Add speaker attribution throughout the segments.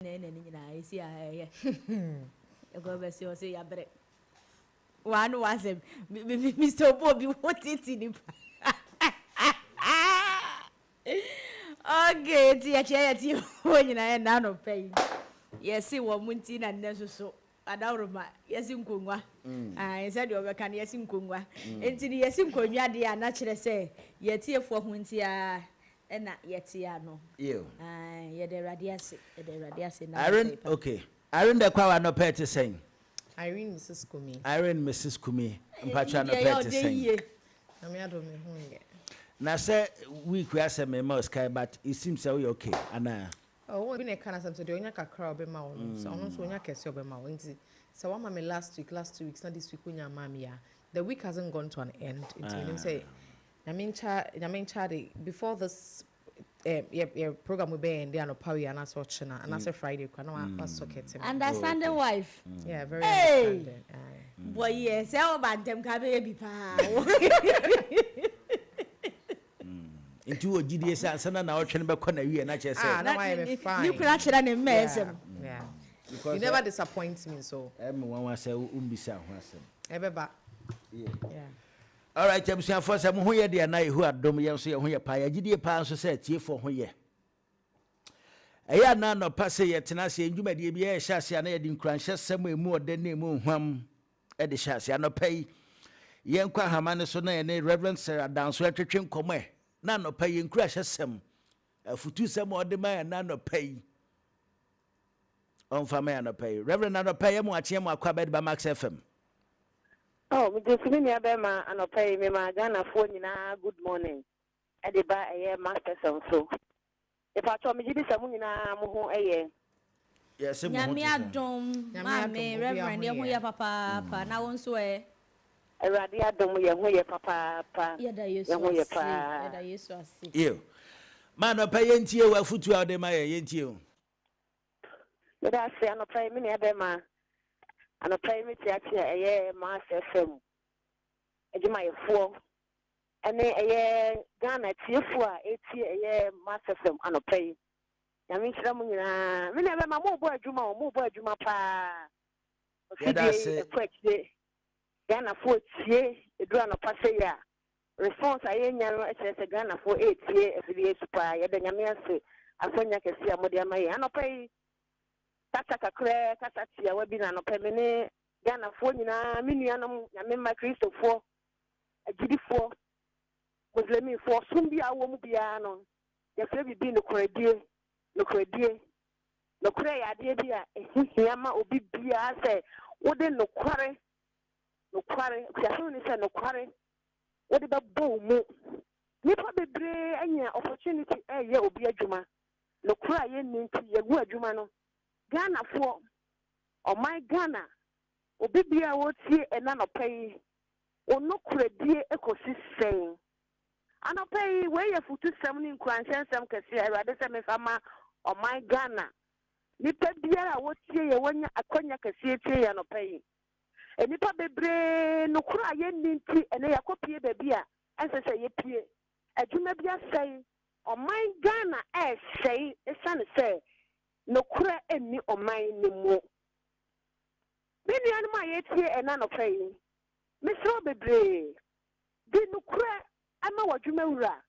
Speaker 1: na ɛna ne nyinaa ɛsi a ɛyɛ ɛkɔ bɛsi ɔsɛ yabrɛ wɔn no wasɛm mr obo obi wo titi nipa okay ti yɛkyɛ yɛ ti wɔn nyinaa yɛ nano pɛ yi yɛsi wɔn mu nti na nnɛ soso Adaworoma, yɛse nkongua. Ae, sɛdeɛ wɔbɛka no, yɛse nkongua. Enti no, yɛse nkonnwa deɛ a, na kyerɛ sɛ yɛn atiefoɔ ho nteaa na yɛte ano. Yiw. Ae, yɛda Awurade ase. Yɛda Awurade ase. Nna no fɛ paa. Irene,
Speaker 2: okay. Irene dɛ Kwawo anɔpa yi te sɛn? Irene Mrs
Speaker 3: Kumi. Irene Mrs Kumi,
Speaker 2: mpakyɛ Irene deɛ anɔpa yi yɛ te ɔdɛ sɛn? yie. Nyame adom me ho nyɛ. Na sɛ week wei asɛ mema wo sika yi but it seems sɛ woyɛ okay anaa? Ɔwɔ bi na ɛka
Speaker 3: n'asɛm sɛ deɛ ɔnya kakra a ɔbɛma wo no sɛ ɔno nso ɔnya kɛse a ɔbɛma wo nti sɛ wama me last week last two weeks na this week wonnya mmaa me yie a the week hasn't gone to an end nti menim sɛ Nyame nkyɛ Nyame nkyɛ ade before this eh, yɛ yɛ program yi bɛyɛ ɛnde anɔpa wei anaasɛ ɔkyena anaasɛ Friday kora na wa wa socket ma me. Understanding wife.
Speaker 1: yeah very Hey!
Speaker 3: understanding
Speaker 1: aye. Bɔ yɛ sɛ ɔba ntɛm ka bɛyɛ bi paa.
Speaker 2: Nti wɔ gyidie sɛ ansa na naawɔtwe no bɛkɔ n'awieɛ na kyerɛ sɛ. Ah, na wayɛ me fine. Ne kura kyerɛ ne mma
Speaker 1: ɛsɛm. Yeah. Because
Speaker 3: you never disappoint me so. Ɛmi wɔn wa sɛ wo
Speaker 2: mbisa ho asɛm. Ɛbɛba. Yeah. Alright, abusuafoɔ sɛ mo ho yɛ deɛ na Yehowa dom yɛn nso yɛn ho yɛ paa. Yɛgyedie paa nso sɛ atiefoɔ ho yɛ. Ɛyɛ a na anɔpa sɛ yɛtena ase yɛn dwumadie bi yɛhyɛ ase a na yɛde nkuranhyɛsɛm a emu ɔdɛ na emu nhwam de hyɛ ase. Anɔpa yi, yɛnkɔ ahama no so na yɛne Rev. Sir Adanso ntwetwe nkɔmmɔ ɛ na anɔpa yi nkuranhyɛsɛm, afutusɛm a ɔde ma yɛn na anɔpa yi ɔmfa ma yɛn anɔpa yi. Rev. Anɔpa yɛ mo akyeɛ mo akɔ abɛde ba Max FM. Oh, megye
Speaker 4: so me nua bɛrima anɔpa yi mema Ghanafoɔ nyinaa good morning ɛde ba ɛyɛ Max FM so. Mepakyɛw megye di sɛ mo nyinaa mo ho yɛ. Yɛse mo ho Nyame te sɛn? adom
Speaker 2: Nyame ma me adom
Speaker 1: obiaa Reverend ho yɛ ho yɛ. yɛ papaapa na wo nso ɛ? Awurade
Speaker 4: adom yɛ ho yɛ papaapa Yɛda yɛ Yesu
Speaker 1: ho yɛ ase paa. yɛda Yesu ase. Ew.
Speaker 2: Ma anɔpa yi yɛntie wo afotuo a wode ma yɛn, yɛntie wo.
Speaker 4: Meda ase anɔpa yi me nua bɛɛma anɔpa yi me teatea ɛyɛ mass fm. adwumayɛfoɔ ɛne ɛyɛ Ghana atiefoɔ a ɛretie ɛyɛ Master FM anɔpa yi. Nyame nhyira mo nyinaa. Me nua bɛma morebɔ adwuma o, morebɔ adwuma paa. Ofidie ɛkɔ akyire. Ghanafoɔ tie ɛduru anɔpa sɛ yi a response a yɛnya no kyerɛ sɛ Ghanafoɔ ɛretie afidie yi so paa. Yɛda Nyame ase asɛnya kɛse a mode ama yɛn. Anɔpa yi kasa kakraa, kasa tiawa bi na anɔpa me ne Ghanafoɔ nyinaa, me nuanom Nyame mma Kristofoɔ, agyidifoɔ, Muslimifoɔ, ɔsom biara a wowɔ mu biara no, yɛfrɛ biribi nokorɛdie, nokorɛdie. Nokorɛ yɛ adeɛ bi a ɛho hia ma obi biara sɛ wode nokware, nokware, akusiasɛm ne sɛ nokware, wode bɛbɔ wo mu. Nnipa bebree anya opportunity reyɛ obi adwuma, nokorɛ a yɛnni nti yɛagu adwuma no. Ghanafoɔ. Ɔman Ghana, obi biara a ɔretie ɛna nɔpa yi, wo nokorɛdie kɔsi sɛn? Anɔpa yi, wei yɛ afutusɛm ne nkuranhyɛ nsɛm kɛseɛ a Awurade sɛ memfa ma ɔman Ghana. Nnipa biara a wɔtie yɛn, wɔanya akwanya kɛseɛ tie yɛn anɔpa yi. Nnipa bebree, nokorɛ a yɛnni nti, ɛnɛ yɛakɔpie baabi a ɛnsɛ sɛ yɛpie. Adwuma bi asɛe. Ɔman Ghana ɛresɛe ɛsiane sɛ Nokorɛ nni ɔman no mu. Me nuanom a yɛretie ɛnnɛ anɔpa yi, mesrɛ wo bebree, di nokorɛ ma w'adwuma wura,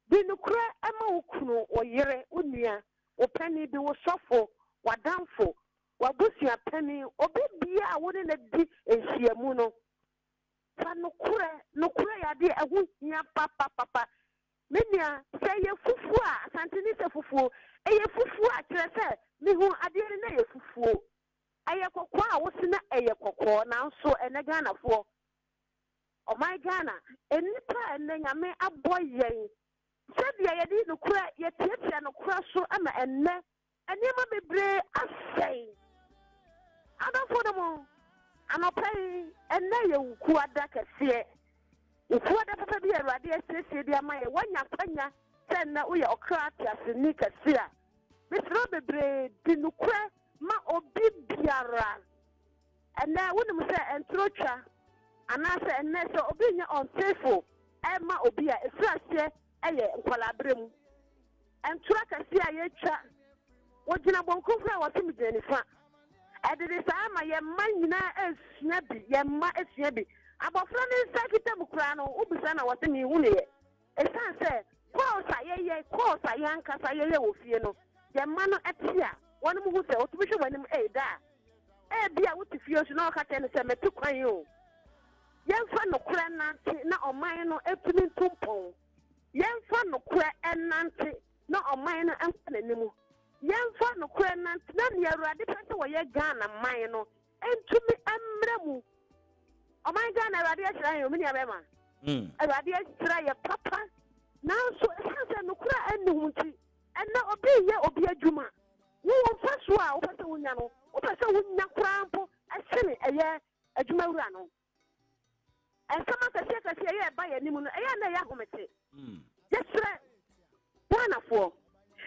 Speaker 4: di nokorɛ ma wo kunu, wo yere, wo nua, wo panin bi, wo sɔfo, w'adamfo, w'abusua panin, obi biara a wo ne no di nhyiamu no. Fa nokorɛ, nokorɛ yɛ adeɛ a ɛho hia papapapa. Me nua, sɛ ɛyɛ fufuo a, Asanteni sɛ fufuo, ɛyɛ fufuo a, kyerɛ sɛ, mehu adeɛ no na ɛyɛ fufuo. Ɛyɛ kɔkɔɔ a, wo se na ɛyɛ kɔkɔɔ. Nanso ɛnnɛ Ghanafoɔ, ɔman Ghana, nnipa a ɛnnɛ Nyame abɔ yɛn, sɛdeɛ yɛde nokorɛ, yɛtiatia nokorɛ so ma ɛnnɛ Nneɛma bebree asɛe. Adɔfo no mo, anɔpa yi, ɛnnɛ yɛ Wukuada kɛseɛ. Wukuada papa bi a Awurade asiesie de ama yɛn. Woanya akwanya sɛ nnɛ woyɛ ɔkra teaseni kɛse a, mesrɛ wo bebree, di nokorɛ ma obi biara. Ɛnnɛ, wonim sɛ ɛntoro twa, anaasɛ ɛnnɛ sɛ obi nyɛ unfaithful ɛmma obi a, ɛfiri aseɛ yɛ nkwadaa-berɛ mu ntorɔ akɛseɛ a yɛtwa. Wɔgyina bonkum ho a wɔse megyina nifa. Ɛde de saa ma yɛn mma nyinaa sua bi, yɛn mma sua bi. Abɔfra no nsa kita mu koraa no, wobisa na wɔse menhunuiɛ. Ɛsiane sɛ course a yɛyɛ, course a yɛn ankasa yɛyɛ wɔ fie no, yɛn mma no te a, wɔnom hu sɛ wɔtumi hwɛ w'anim, ei daa. Ebia wote fie nso na woka kyerɛ no sɛ mete kwan yi o. Yɛmfa nokorɛ nnante na ɔman no atumi ntu mpɔn. Yɛmfa nokorɛ nnante na ɔman no nkɔ n'anim. Yɛmfa nokorɛ nnante na nea Awurade pɛ sɛ ɔyɛ Ghana man no ntumi mmra mu. Ɔman Ghana, Awurade ahyira yɛn, me nua bɛrima. Hmm. Awurade ahyira yɛ papa. Nanso ɛsiane sɛ nokorɛ a ɛnni ho nti, ɛnna obi reyɛ obi adwuma. Wowɔ mfasoɔ a wopɛ sɛ wonya no, wopɛ sɛ wonya koraa mpo ɛsene ɛyɛ Adwumawura no, nsɛm akɛseɛ akɛseɛ ɛyɛ ɛba yɛn anim no, ɛyɛ a na ɛyɛ ahomete. Hmm. Yɛsrɛ Ghanafoɔ,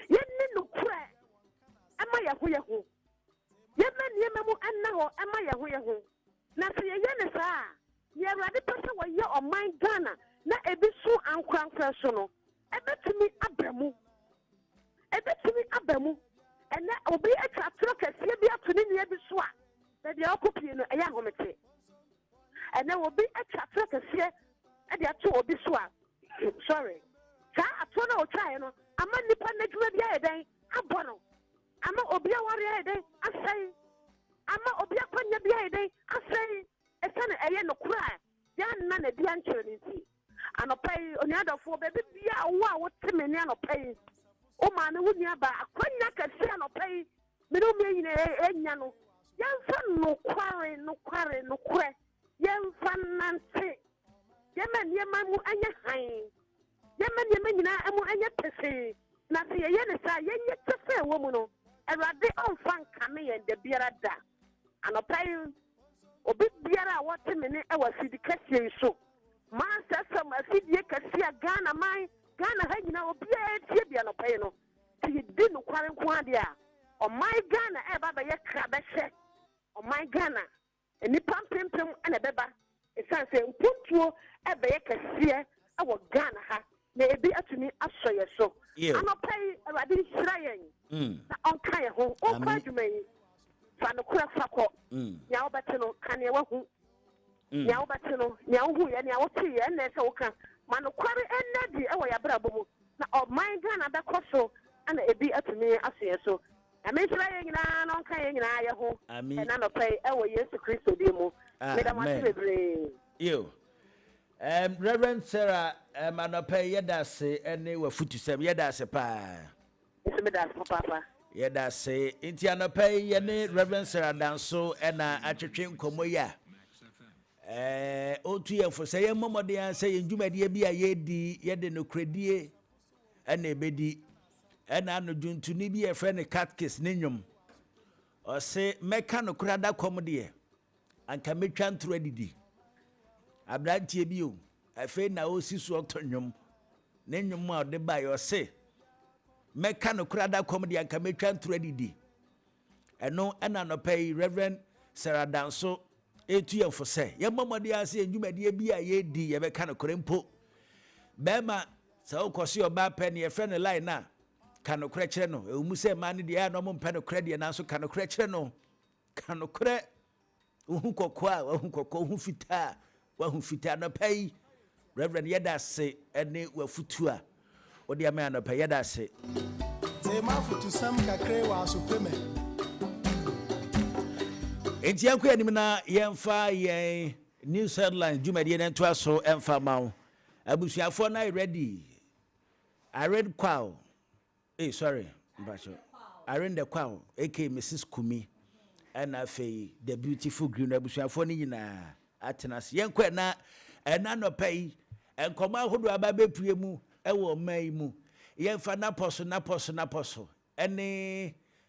Speaker 4: yɛnni nokorɛ ɛma yɛn ho yɛn ho. Yɛmma nneɛma mu ɛnna hɔ ɛma yɛn ho yɛn ho. Na sɛ yɛyɛ ne saa a, nea Awurade pɛ sɛ wɔyɛ ɔman Ghana na ebi so ankorankora so no, Ɛbɛtumi aba mu. Ɛbɛtumi aba mu. Ɛnnɛ, obi atwa atorɔ kɛseɛ bi ato ne nua bi so a, baabi a ɔkɔpue no, ɛyɛ ahomete. Ɛnnɛ, obi atwa atorɔ kɛseɛ de ato obi so a, sorry, saa atorɔ no a ɔtwaeɛ no ama nnipa no adwuma bi ayɛ dɛn? Abɔ no. Ama obi awareɛ ayɛ dɛn? Asɛe. Ama obi akwannya bi ayɛ dɛn? Asɛe. Ɛsiane ɛyɛ nokorɛ a yɛanna no adi ankyerɛ no nti. Anɔpa yi, onua dɔfoɔ, baabi biara a wo a wote me nne anɔpa yi, wo maame, wo nuabaa, akwanya kɛseɛ anɔpa yi, me ne wo mmienu nyinaa yɛ- yɛnya no. Yɛmfa nokware, nokware, nokorɛ, yɛmfa nnante. Yɛmma nneɛma mu nyɛ hann. Yɛmma nneɛma nyinaa mu nyɛ pefee. Na sɛ yɛyɛ no saa a, yɛnyɛ kyɛfa a ɛwɔ mu no, Awurade ɔmfa nkame yɛn da biara da. Anɔpa yi, obi biara a wɔte me nne wɔ afidikɛseɛ yi so, Mansɛsɛm afidie kɛseɛ a Ghana man, Ghana ha nyinaa obiara retie bi anɔpa yi no, sɛ yɛdi nokware nko ara deɛ a, ɔman Ghana reba abɛyɛ krabɛhyɛ. Ɔman Ghana, nnipa mpempem na ɛbɛba ɛsiane sɛ mpuntuo rebɛyɛ kɛseɛ wɔ Ghana ha. na ebi atumi asɔ yɛn so. Anɔpa yi, Awurade nhyira yɛn mm. na ɔnka yɛn ho. Wonkɔ adwuma yi, fa nokorɛ fa kɔ. Mm. Nea wobɛte no, ka nea wahu. Mm. Nea wobɛte no, nea wohu yɛ, nea wote yɛ, ɛnna ɛsɛ woka. Ma nokware ɛnna di wɔ yɛn abrabɔ mu, na ɔman Ghana bɛkɔ so na ebi atumi aso yɛn so. Nyame nhyira yɛn nyinaa na ɔnka yɛn nyinaa yɛ ho ɛna nɔpɛ yi ɛwɔ Yesu Kristo din mu. Meda mo ase bebree.
Speaker 2: Erm Reverend Sarah erm anɔpa yi yɛda ase ɛne w'afutusɛm yɛda ase paa. Nso meda
Speaker 4: ase papaapa. Yɛda ase.
Speaker 2: Nti anɔpa yi yɛne Reverend Sarah Danso ɛna atwetwe nkɔmmɔ yi a ɛɛ ɔtu yɛn fo sɛ yɛn mmɔmɔden ara sɛ yɛn dwumadie bi a yɛredi yɛde nokorɛdie ɛna ɛbɛdi ɛna ano dwontoni bi a yɛfrɛ no Catkis ne nnwom ɔse mɛka nokorɛ adakɔm deɛ Anka mɛtwa ntoro adidi. Aberanteɛ bi o, afei na ɔresi so ɔto nnwom. Ne nnwom a ɔde baeɛ ɔse, mɛka nokorɛ ada kɔm deɛ anka mɛtwa ntoro adidi. Ɛno ɛna anɔpa yi Reverend Sarah Danso ɛretu yɛn fo sɛ yɛmmɔ mmɔden ara sɛ yɛn dwumadie bi a yɛredi yɛbɛka nokorɛ mpo. Bɛrima sɛ wokɔ so yɛ ɔbaa pɛ ne yɛfrɛ no line a, ka nokorɛ kyerɛ no. Ɛwɔ mu sɛ mmaa no deɛ ɛyɛ a na wɔmpɛ nokorɛ deɛ nanso ka nokorɛ kyerɛ no. Ka nokorɛ, wo ho kɔkɔɔ a woahu kɔkɔɔ, wo ho fitaa a woahu fitaa. Anɔpa yi, Reverend, yɛda ase ne w'afotuo a wode ama yɛn anɔpa yi. Yɛda ase. Te
Speaker 5: m'afotusɛm kakra yi wɔ aso pe me.
Speaker 2: Enti yɛnkɔ yɛn anim na yɛmfa yɛn News Headlines dwumadie no ntoa so mfa ma wo. Abusuafoɔ no ayɛ ready. Irene Kwao, Ei sorry mpakyɛw Arenda Kwaw aka Misis Kumi ɛna afei The Beautiful Green abusuafoɔ no nyinaa atena ase. Yɛnkɔ ɛna ɛna nɔpa yi nkɔmɔ ahodoɔ aba bɛpue mu ɛwɔ ɔman yi mu. Yɛmfa napɔ so napɔ so napɔ so ɛne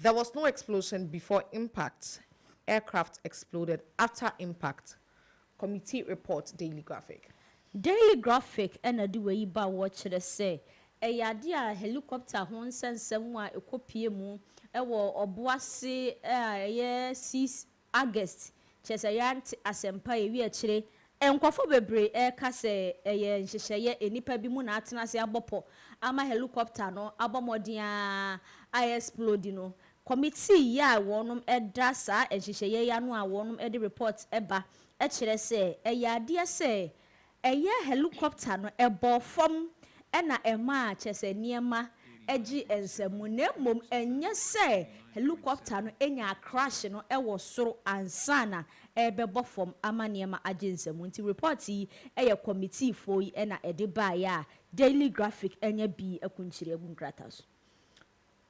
Speaker 3: There was no explosion before impact, aircraft exploded after impact, Committee Report Daily Graphic. Daily
Speaker 1: Graphic na ɛde wei yi ba wɔ kyerɛ sɛ ɛyɛ adeɛ a helicopter ho nsɛnsɛm a ɛkɔ pue mu wɔ ɔboase a ɛyɛ Sea August, kyerɛ sɛ yɛante asɛmpa a ewie akyire. Nkurɔfo bebree reka sɛ ɛyɛ nhyehyɛeɛ, nnipa binom na atena ase abɔ pɔ ama helicopter no abɔ mmɔden ara a ɛresplodi no. Kɔmitii yi a wɔda saa nhyehyɛeɛ yi ano a wɔde report ba kyerɛ sɛ ɛyɛ adeɛ sɛ Ɛyɛ helicopter no ɛbɔɔ fam na ɛmaa kyerɛ sɛ nneɛma gyee nsam mu na mmom ɛnyɛ sɛ helicopter no nyaa crash no wɔ soro ansa na ɛrebɛbɔ fam ama nneɛma agye nsam mu nti report yi yɛ kɔmitiifoɔ yi na ɛde baeɛ a Daily Graphic anya bi akunkyire agu nkrataa so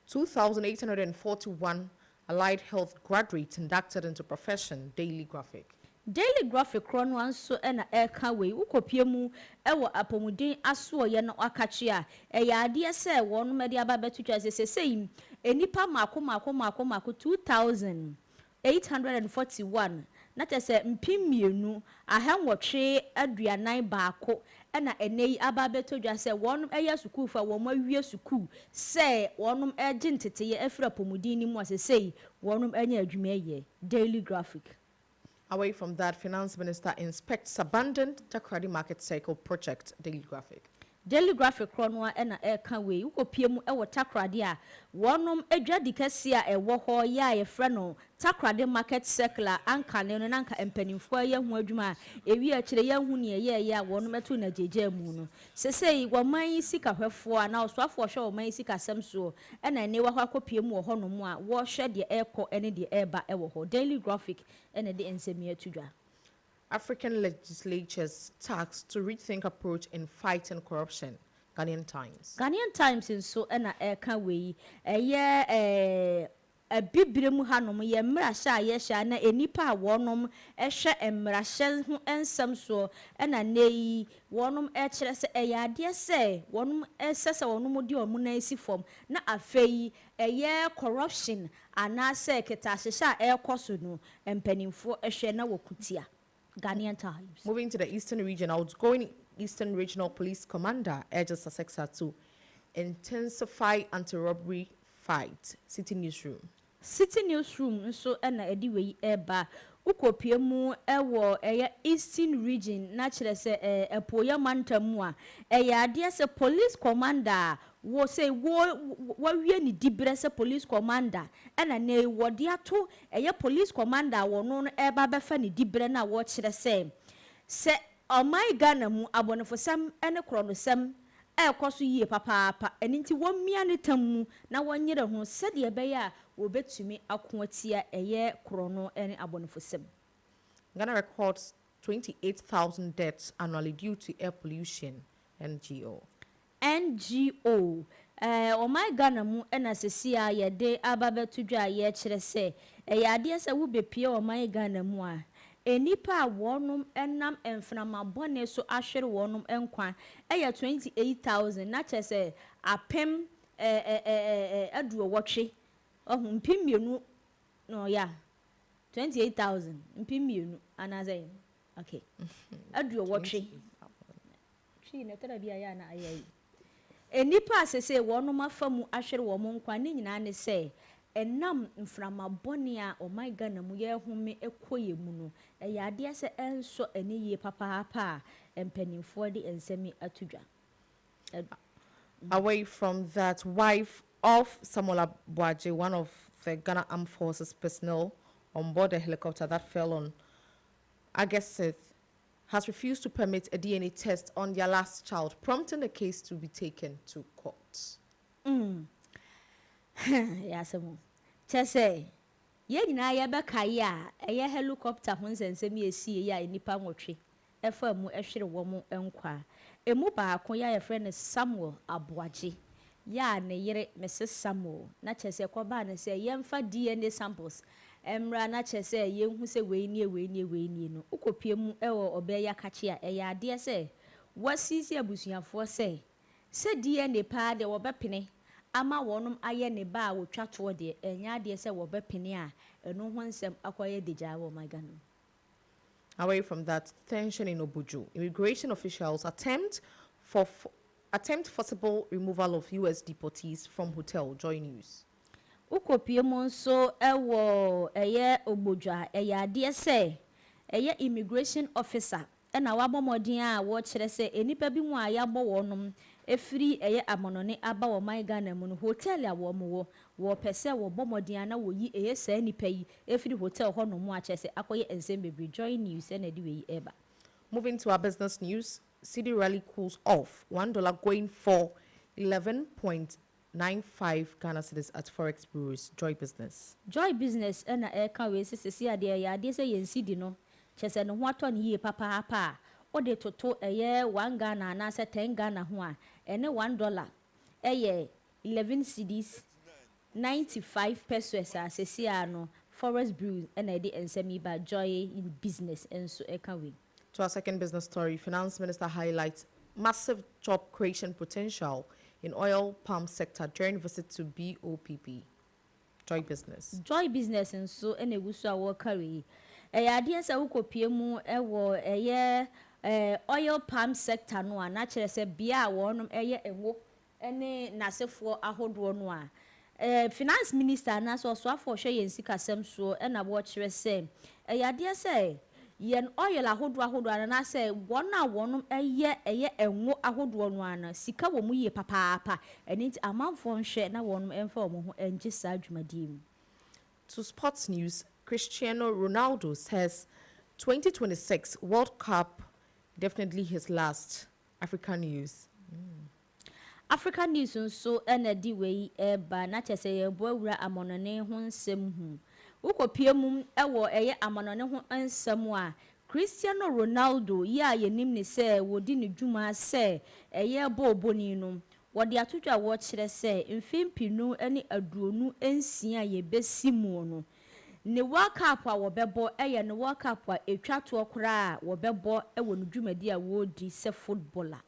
Speaker 1: Two
Speaker 3: thousand eight hundred and forty one Allied Health Graduates Inducted into Profession Daily Graphic. Daily Graphic
Speaker 1: korɔ no ara nso na ɛreka wei, Wokɔpue mu wɔ apɔmuden asoɔeɛ no akakye a, ɛyɛ adeɛ sɛ wɔnom de aba abɛto dwa sɛ seesei nnipa mmaako mmaako mmaako mmaako two thousand 841, na kyerɛ sɛ mpem mmienu, ahannwɔtwe aduanan baako na ɛnnɛ yi aba abɛtɔ dwa sɛ wɔnom ɛyɛ asukuufo a wɔnom awie sukuu sɛ wɔnom ɛregye nteteeɛ afiri apɔmuden no mu a sesei wɔnom anya adwuma ɛyɛ. Daily Graphic. Away from
Speaker 3: that, Finance Minister inspects abandoned Takoradi Market Circle project, Daily Graphic. Daily Graphic
Speaker 1: korɔ no ara na ɛreka wei. Wokɔpie mu wɔ Takoradi a, wɔnom adwadi kɛseɛ a ɛwɔ hɔ yi a yɛfrɛ no Takoradi Market Circle a ankane no na anka mpaninfoɔ ayɛ ho adwuma a ɛwie akyire yɛnhu neɛ ɛyɛɛyɛ a wɔnom too no agyaagyaamuu no. Sesei wɔman yi sika hwɛfoɔ anaa ɔsoafoɔ a ɔhwɛ wɔman yi sika asɛm soɔ na ɛnnewa hɔ akɔpie mu wɔ hɔ nom a wɔhwɛ deɛ ɛrekɔ ne deɛ ɛreba wɔ hɔ. Daily Graphic na ɛde nsɛm yi ato dwa. African
Speaker 3: Legislatures Tax to Rethink Approach in Fighting Corruption, Ghanaian Times. Ghanaian Times nso
Speaker 1: na ɛka wei. Ɛyɛ Abibire mu hanom yɛ mmarahyɛ a yɛhyɛ a na nnipa a wɔnom hwɛ mmarahyɛ ho nsɛm soɔ na nnɛ yi wɔnom kyerɛ sɛ ɛyɛ adeɛ sɛ wɔnom ɛsɛ sɛ wɔnom de wɔn nan si fam na afei Ɛyɛ corruption anaasɛ kɛtɛahyehyɛ a ɛrekɔ so no mpaninfoɔ hwɛ na wɔko tia. Ghanaian Times. Moving to the Eastern Region,
Speaker 3: Outgoing Eastern Regional Police Commander urges SACECA to intensify anti-robbery fight, Citi Newsroom. Citi Newsroom
Speaker 1: nso na ɛde wei reba. Wokɔpue mu wɔ ɛyɛ Eastern Region na kyerɛ sɛ Apueeɛ Mantam mu a, ɛyɛ adeɛ sɛ Police Commander a Wɔ sɛ wɔ wawie ne diberɛ sɛ police commander ɛna nnɛ yi wɔde ato ɛyɛ police commander a wɔno no ɛreba abɛfa ne diberɛ no a wɔkyerɛ sɛ sɛ ɔman Ghana mu abɔnefosɛm ne korɔnosɛm ɛrekɔ so yie papaapa ɛno nti wɔmmia ne tam mu na wɔnyere ho sɛdeɛ ɛbɛyɛ a wɔbɛtumi ako atia ɛyɛ korɔno ne abɔnefosɛm. Ghana
Speaker 3: records 28,000 deaths annually due to air pollution, NGO. NGO,
Speaker 1: Ɛɛ ɔman Ghana mu na sesie a yɛde aba abɛto dwa a yɛkyerɛ sɛ ɛyɛ adeɛ sɛ wobɛpue ɔman Ghana mu a, nnipa a wɔnom nam mframa bɔne so ahwere wɔnom nkwa yɛ 28,000 na kyerɛ sɛ apem aduowɔtwe, wahu, mpem mmienu no yeah, 28,000, mpem mmienu, anaasɛ, okay, aduowɔtwe. Twi na ɛtɔ da bi a ɛyɛ a na ayɛ ayi. Nnipa a seesei wɔnom afa mu ahwere wɔn nkwa ne nyinaa ne sɛ ɛnam mframa bɔne a ɔman Ghana mu yɛrehome kɔ yɛ mu no, ɛyɛ adeɛ sɛ ɛnsɔ ani yie papaapa a mpaninfoɔ de nsɛm yi ato dwa. Ɛdɔ.
Speaker 3: Away from that, wife of Samuel Aboagye, one of the Ghana Armed Forces personnel on board the helicopter that fell on August sixth, has refused to permit a DNA test on their last child, prompting the case to be taken to court. Mm. Ha, ɛyɛ asɛm o.
Speaker 1: Kyerɛ sɛ, yɛn nyinaa yɛbɛkae a ɛyɛ helicopter ho nsɛnsɛm yi a esii yi a nnipa nwɔtwe faa mu hwere wɔn nkwa. Emu baako, yi a yɛfrɛ no Samuel Aboagye, yi a ne yere Mrs. Samuel, na kyerɛ sɛ ɛkɔbaa no sɛ yɛmfa DNA samples Ɛmmra na kyerɛ sɛ yɛnhu sɛ wei nie, wei nie, wei nie no, wokɔpue mu wɔ ɔbaa yi akakye a, ɛyɛ adeɛ sɛ wasiesie abusuafoɔ sɛ, sɛ DNA paa deɛ wɔbɛpene ama wɔnom ayɛ ne ba a wɔtwa toɔ deɛ, ɛnyɛ adeɛ sɛ wɔbɛpene a ɛno ho nsɛm akɔyɛ dagyaa wɔ ɔman Ghana mu.
Speaker 3: Away from that, tension in Obuju, immigration officials attempt for attempt forcible removal of US deportees from hotel, Joy News. Wokɔpue
Speaker 1: mu nso wɔ ɛyɛ obodwa, ɛyɛ adeɛ sɛ ɛyɛ immigration officer na wabɔ mmɔden a wɔkyerɛ sɛ nnipa bi mu a yɛabɔ wɔnom ɛfiri ɛyɛ amonone aba wɔ ɔman Ghana mu no hotel a wɔn wɔ wɔpɛ sɛ wɔbɔ mmɔden a na wɔyi ɛyɛ saa nnipa yi ɛfiri hotel hɔ nom mu a kyerɛ sɛ akɔyɛ nsɛm bebree Joy News ɛna ɛde wei ɛreba. Moving to our
Speaker 3: business news, Cedi rally cools off, one dollar going for eleven point Nine five Ghana cedis at forex bureaus, Joy Business. Joy Business
Speaker 1: na ɛreka wei sɛ sɛsi adeɛ ɛyɛ adeɛ sɛ yɛn cedi no kyerɛ sɛ ne ho atɔ no yie papaapa a wo de toto ɛyɛ one Ghana anaasɛ ten Ghana ho a ɛne one dollar ɛyɛ eleven cedis ninety five pesoes a sɛsi ara no forex bureau na ɛde nsɛm yi ba Joy Business nso ɛka wei. To our second business
Speaker 3: story, Finance Minister highlights massive job creation potential in oil palm sector during visit to BOPB. Joy Business. Joy Business nso
Speaker 1: na ɛgu so a wɔreka wei. Ɛyɛ adeɛ sɛ wokɔpue mu wɔ ɛyɛ oil palm sector no a, na kyerɛ sɛ bea a wɔnom yɛ ngo ne n'asefoɔ ahodoɔ no a, Finance Minister anaasɛ Ɔsoafoɔ a ɔhwɛ yɛn sikasɛm soɔ na wɔkyerɛ sɛ ɛyɛ adeɛ sɛ yɛn oil ahodoɔ ahodoɔ no anaasɛ wɔn a wɔnom yɛ ɛyɛ ngo ahodoɔ no ara no, sika wɔ mu yie papaapa. Ɛno nti amanfoɔ nhwɛ na wɔnom mfa wɔn ho ngye saa dwumadie mu. To
Speaker 3: sports news Cristiano Ronaldo says twenty twenty six World Cup definitely his last.
Speaker 1: Africa News mm. Africa News nso na ɛde wei reba, na kyerɛ sɛ yɛreboa wura amannɔne ho nsɛm hu. Wokɔpue mu wɔ ɛyɛ amannɔne ho nsɛm a, Cristiano Ronaldo yi a yɛnim no sɛ wɔdi no dwuma sɛ ɛyɛ bɔɔlbɔni no, wɔde ato dwa a wɔkyerɛ sɛ mfe mpenu ne aduonu nsia a yɛbɛsi mu no, Ne World Cup a wɔbɛbɔ yɛ ne World Cup a ɛtwa toɔ koraa a wɔbɛbɔ wɔ ne dwumadie a ɔredi sɛ footballer.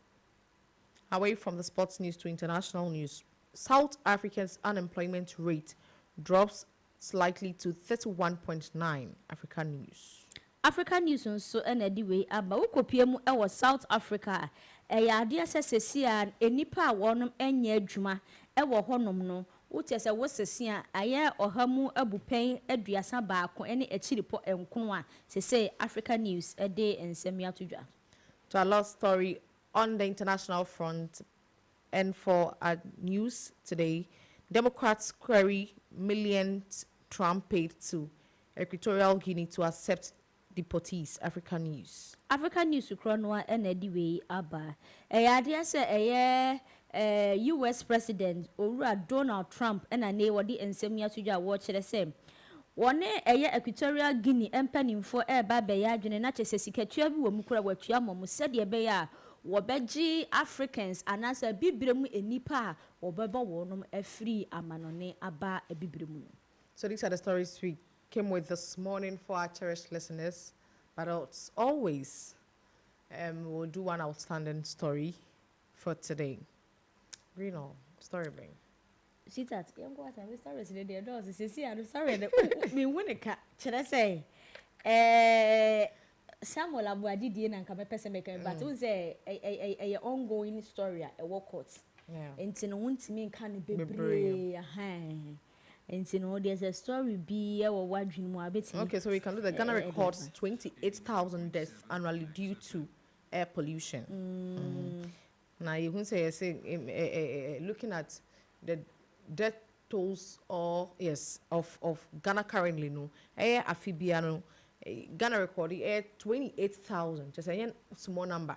Speaker 3: Away from the sports news to international news, South Africa's unemployment rate drops slightly to thirty one point nine Africa news. Africa News
Speaker 1: nso na ɛde wei aba. Wokopue mu wɔ South Africa a, ɛyɛ adeɛ sɛ seesei ara nnipa a wɔnom nyɛ adwuma wɔ hɔnom no, wo kyerɛ sɛ wo sese a, ayɛ ɔha mu abupɛn aduasa baako ne akyiripɔ nkono a seesei Africa News de nsɛm yi ato dwa. To a lot
Speaker 3: story on the international front and for our news today, Democrats query millions Trump paid to Equatorial Guinea to accept deportees, Africa News. Africa News korɔ no ara na
Speaker 1: ɛde wei aba. Ɛyɛ adeɛ sɛ ɛyɛ US President Owura Donald Trump na nei wɔde nsɛm yi ato dwa a wɔkyerɛ sɛ wɔne ɛyɛ Equatorial Guinea mpaninfoɔ reba abɛyɛ adwene na kyerɛ sɛ sikatua bi wɔ mu koraa a wɔatua ama wɔn sɛdeɛ ɛbɛyɛ a wɔbɛgye Africans anaasɛ Abibire mu nnipa a wɔbɛbɔ wɔnom afiri amanɔne aba Abibire mu no. So these are the
Speaker 3: stories we came with this morning for our cherished listeners but as always um, we'll do one outstanding story for today. Green all story bring. Sweetheart,
Speaker 1: yɛn kɔ asa mi story si ne deɛ dɔɔso sisi ano story no mi hu ne ka kyerɛ sɛ ɛɛ Samuel Abuadi die na nka mɛpɛ sɛ mɛka mi but n sɛ ɛyɛ ongoing story a ɛwɔ court nti no
Speaker 3: ho ntumi
Speaker 1: nka no bebree ahan. Nti no wodeɛ sɛ story bi ɛwɔ wadwene mu a bɛtumi Okay so we can do that. Ghana
Speaker 3: records 28,000 deaths annually due to air pollution. Mm. Na yɛhu sɛ yɛse looking at the death tolls or yes of of Ghana currently no ɛyɛ afe biara no Ghana record ɛyɛ 28,000 kyerɛ sɛ ɛnyɛ small number.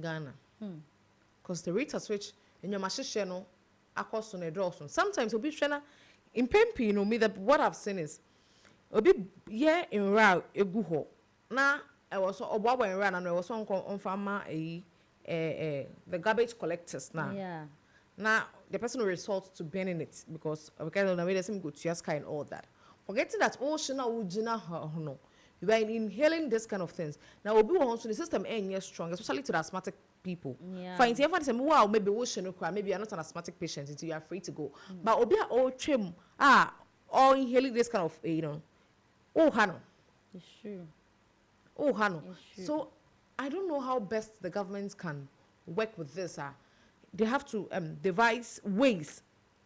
Speaker 3: Ghana. Cos the rate at which nneɛma hyehyɛ no akɔ so no ɛdɔɔso. Sometimes obi hwɛ na mpɛn pii no me the what I've seen is obi yɛ nwura a egu hɔ na ɛwɔ sɛ ɔboaboa nwura no ano ɛwɔ sɛ ɔnkɔ ɔmfa ma ɛyi ɛɛ ɛɛ the garbage collectors na Yeah. na
Speaker 1: the
Speaker 3: person will resort to burning it because ɔbɛka sɛ na wei deɛ sɛ mekotua sika and all that forgetting that wohye no a wogyina hɔ no We are inhaling this kind of things na obi wɔ hɔ nso ne system ɛnyɛ strong especially to the asthmatic people fa nti ɛmfa ne sɛ
Speaker 1: wo a
Speaker 3: maybe wo hyɛ no koraa maybe you are not an asthmatic patient nti you are free to go mm. but obi a ɔretwam a ɔ inhaling this kind of you know oh ha no
Speaker 1: oh ha no
Speaker 3: so I don't know how best the government can work with this ah they have to um, devise ways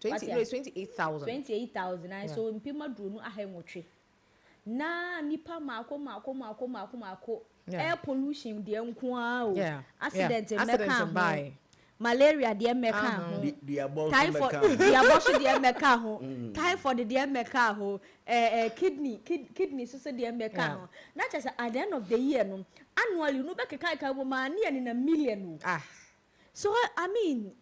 Speaker 1: Twenty, no, it's
Speaker 3: twenty eight thousand.
Speaker 1: Twenty eight thousand, ayi, so mpem aduonu aha nwɔtwe. Na nipa mako, mako, mako, mako, mako, air pollution deɛ nko ara o, accident mmɛka ho, malaria deɛ mmɛka ho, typhoid, duabɔ so deɛ mmɛka ho, typhoid deɛ mmɛka ho, ɛɛ, ɛɛ, kidney, kid, kidney so so deɛ mmɛka ho. Na kyerɛ sɛ at the end of the year no, annually no, wobɛkeka keka bom a, na yɛnenam million o. Ah. So, I mean.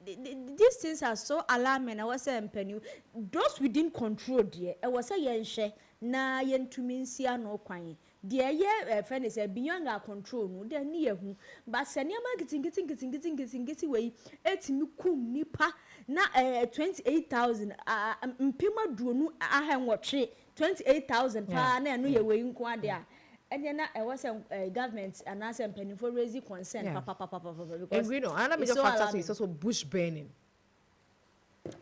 Speaker 1: These things are so alarming ɛwɔ sɛ mpanin those within control deɛ ɛwɔ sɛ yɛn hwɛ na yɛn tumi nsi ano kwan deɛ ɛyɛ ɛfɛ ne sɛ beyond our control no deɛ ne yɛ hu but sɛ nneɛma nketenkete nketenkete nketenkete wɔ yi ɛtumi kum nipa na ɛɛ twenty eight thousand aa mpem aduonu aha nwɔtwe Twenty eight thousand paa na ɛno yɛ wei nko ara deɛ a, ɛneɛ na ɛwɔ sɛ eh, government anaasɛ mpaninfoɔ raise concern Yeah. papapapapapa because Ngui no, ana it's mejɔ so
Speaker 3: factor so alarming. it's also bush burning.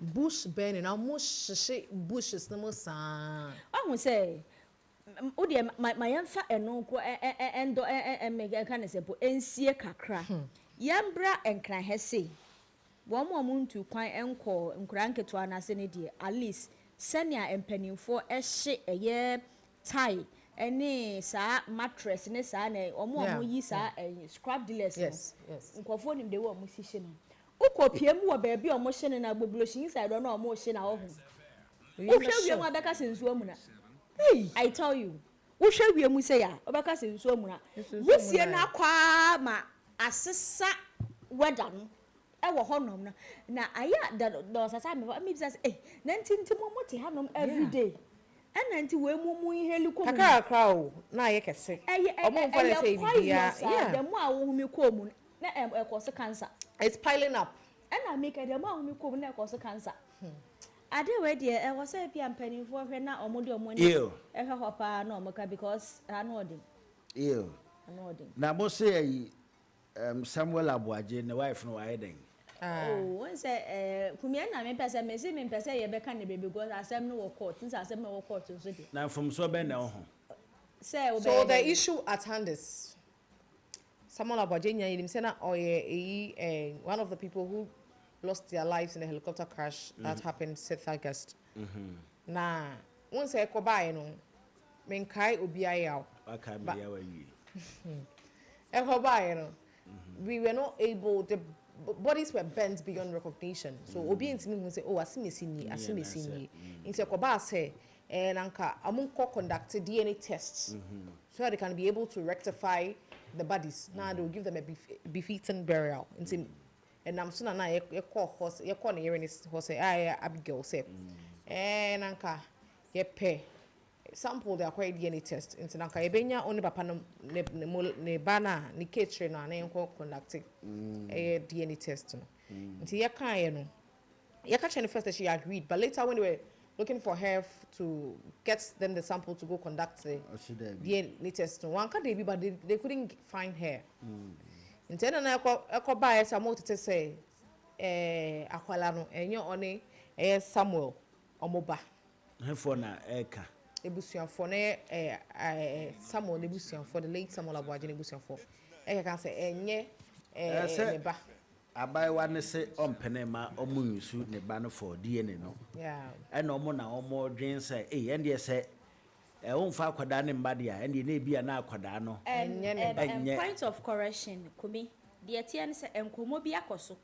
Speaker 3: Bush burning, na ɔmo hyehye bushes no mu saa. Wahu sɛ
Speaker 1: m- wo deɛ ma ma yɛmfa ɛno nko ɛ- ɛ- ɛ- ɛndɔ ɛ- ɛ- ɛ- me- ɛka ne sɛ mpo ɛnsie kakra. Yɛmbra Nkrahɛ sei Wɔn a wɔntuu kwan nkɔɔ nkuraa nketewa no ase no deɛ, at least sɛnea mpanimfoɔ hye ɛyɛ tie ne saa mattress ne saa na wɔn a wɔyi saa ɛyi scrap dealers no, nkurɔfoɔ nim the way wɔsi hye no. Wokɔ pie mu wɔ baabi a wɔhye no no a, Gbobloshiny side hɔ no a wɔhye no a, wohu. Wohwɛ wiem a, wobɛka sɛ nsuo amuna. I tell you. Wohwɛ wiem sei a, wobɛka sɛ nsuo amuna. Wusie no akɔ ara ma asesa weather no wɔ hɔnom no, na ayɛ a da da ɔsesa me hɔ. Mebisa sɛ, ei, na nti nti mo mo te hanom every day? Ɛna nti wei mo mo inhale kɔ mo mu? Kakrakra o, na ayɛ
Speaker 3: kɛse. Ɛyɛ ɛ Wɔn mfa no sɛ ɛyɛ ɛyɛ biribiara. poisonous a, Yeah.
Speaker 1: the more a wohome kɔɔ mu no, na ɛ ɛkɔse cancer. It's piling up.
Speaker 3: Ɛna me kɛ deɛ
Speaker 1: mo a mo me kɔm na ɛkɔ so cancer ade wei deɛ ɛwɔ sɛ ebia mpaninfoɔ hwɛ na ɔmo de ɔmo ani ɛhwɛ hɔ paa na ɔmo ka because ano ɔden. Eww
Speaker 2: na mo se ayi ɛɛm Samuel Aboagye ne wife no wayɛ dɛn. Aww wohu
Speaker 1: sɛ ɛɛ kumi ɛna me pɛ sɛ me se me mpɛ sɛ yɛ bɛ ka ne bɛ bi cos asɛm no wɔ court nsɛ asɛm no ɛwɔ court nso deɛ. Na mfomsoɔ bɛn
Speaker 2: na ɛwɔ ho. Sɛ
Speaker 3: wobɛyɛ dɛn. So the issue at hand is Samuel Aboagye nyaa yenim sɛ na ɔyɛ eyi eh, one of the people who lost their lives in the helicopter crash that mm. happened sixth August. Mm -hmm. Na wɔn sɛ ɛkɔ baayɛ no menkae obiara yaw. Wakae mi yaw awie. Ɛkɔ baayɛ no mm-hmm. we were not able the bodies were bent beyond recognition so mm. obi ntumi hu sɛ oh asemesi nie asemesi nie nti ɛkɔ baa sɛ And anka ɔmo nkɔ conduct DNA test so that they can be able to rectify the bodies na they will give them a befitting burial nti ɛnam so na na yɛkɔ hɔ yɛkɔ ne yere ne hɔ sɛ a yɛ Abigail sɛ ɛɛ na nka yɛpɛ sample de akɔyɛ DNA test nti na nka yɛbɛnya ɔne papa no ne ne ba no a ne kekyire no a na yɛnkɔ conduct ɛyɛ DNA test no nti yɛkaeɛ no Yɛka kyerɛɛ no first dɛ she agreed but later when they were looking for her to get them the sample to go conduct the DNA test no ɔanka dabi but they they couldn't find her ntsi nna na ɛkɔ ɛkɔ baayɛ sɛ ɔmo tsetse sɛ ɛɛ akwala no ɛnyɛ ɔne ɛyɛ Samuel ɔmo ba. Hefoɔ na
Speaker 2: ɛreka? Abusuafoɔ na
Speaker 3: ɛyɛ ɛɛ Samuel n'abusuafoɔ the late Samuel Aboagye n'abusuafoɔ ɛkeka sɛ ɛnyɛ ɛɛ ne ba. Abaayewa no
Speaker 2: se ɔmpene mma wɔnsu ne ba no for DNA no, ɛna wɔn na wɔdwene sɛ ei ɛndeɛ sɛ wɔmfa akwadaa no mma deɛ a ɛndeɛ na ebia na akwadaa no nyɛ. Point
Speaker 1: of correction, Kumi, deɛ ɛteɛ ne sɛ nkɔmmɔ bi akɔ so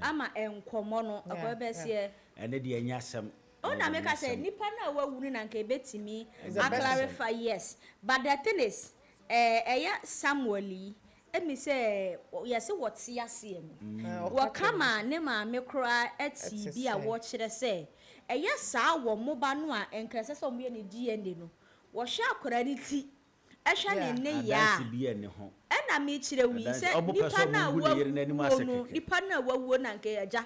Speaker 1: ama nkɔmmɔ no akɔ ɛbɛseɛ. Ɛno deɛ ɛnyɛ
Speaker 2: asɛm. Wo na meka sɛ
Speaker 1: nnipa no a wɔawu no na nka ɛbɛtumi a clarify, yes but the thing is ɛyɛ Samuel yi Ɛne sɛ, yɛse wɔte aseɛ no. Wɔka ma ne maame koraa te bi a wɔkyerɛ sɛ ɛyɛ saa wɔ mo ba no a nka ɛsɛ sɛ wɔyɛ ne DNA no. Wɔhwɛ akwadaa no ti, hwɛ ne nneyɛɛ a, ɛna mekyerɛ wo yi sɛ nipa no a wawuo no, nipa no a wawuo no anka ɛyɛ agya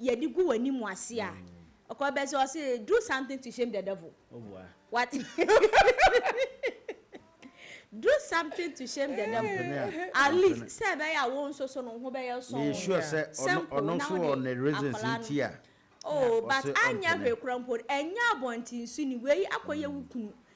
Speaker 1: yɛde gu w'anim ase a, ɔkɔ bɛ sɛ ɔse do something to shame the devil. What? Do something to shame the devil. At least sɛ ɛbɛyɛ a wo nso so no wo ho bɛyɛ sɔnn. Meyɛ sure sɛ
Speaker 2: ɔno nso wɔ ne reasons nti a ɔse ɔmpene. Oh but
Speaker 1: anyɛ hwee koraa mpo no, ɛnyɛ abɔntensu ni, wei akɔyɛ wo kunu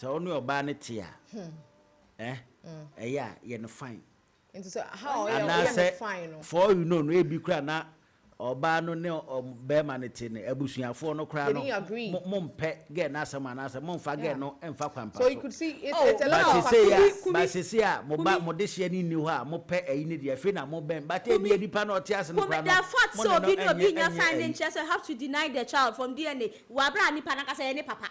Speaker 2: Sɛ wo ne ɔbaa no te a, eh, ɛyɛ a, yɛ no fine. Nti sɛ how
Speaker 3: a ɔyɛ ɔyɛ no fine no. Anaasɛ for all you know no ebi
Speaker 2: koraa na ɔbaa no ne ɔbarima no te no, abusuafoɔ no koraa no, mo, mo mpɛ girl no asɛm anaasɛ mo mfa girl no mfa kwan pa so. Oh,
Speaker 3: but sesei a, but sesei a mo
Speaker 2: ba, mo dehyeɛ no nni hɔ a, mo pɛ ayi no deɛ, afei na mo bɛn, but ebia nipa no ɔte ase no koraa no, mo ne no ɛnyɛ, ɛnyɛ ayi. Kumi, the fact sɛ obi ne
Speaker 1: obi nnya fine no nkyerɛ sɛ you have to deny the child from DNA. Wɔ abere a nipa no ankasa yɛ ne papa.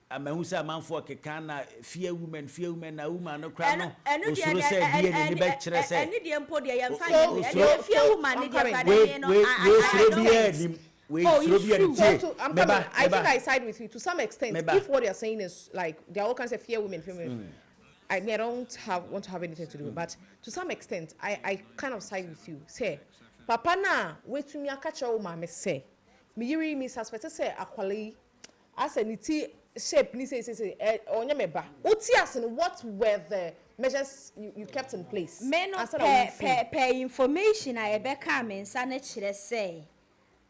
Speaker 1: Mahu sɛ amanfoɔ
Speaker 2: keka na fear women, fear women na woman no koraa no osuro sɛ ɛdeɛ n'ani bɛkyerɛ sɛ
Speaker 1: osuro
Speaker 3: wei suro biara nnim wei suro biara nnim tie me ba me ba me ba Asɛ ne ti shape ne sei sei ɛ ɔnyɛ me ba. Wo te ase no what were the measures you you kept in place Me no ansa na pɛ
Speaker 1: wo pɛ fii. pɛ information a ɛbɛkaa me nsa no kyerɛ sɛ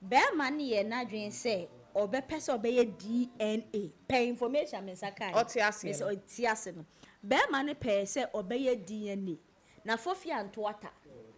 Speaker 1: bɛɛma no yɛ nadwen sɛ ɔbɛpɛ sɛ ɔbɛyɛ DNA pɛ information a me nsa kaeɛ no Ɔte aseɛ mese no. ɔte ase no bɛɛma no pɛɛ sɛ ɔbɛyɛ DNA. Na Fofia Ntoata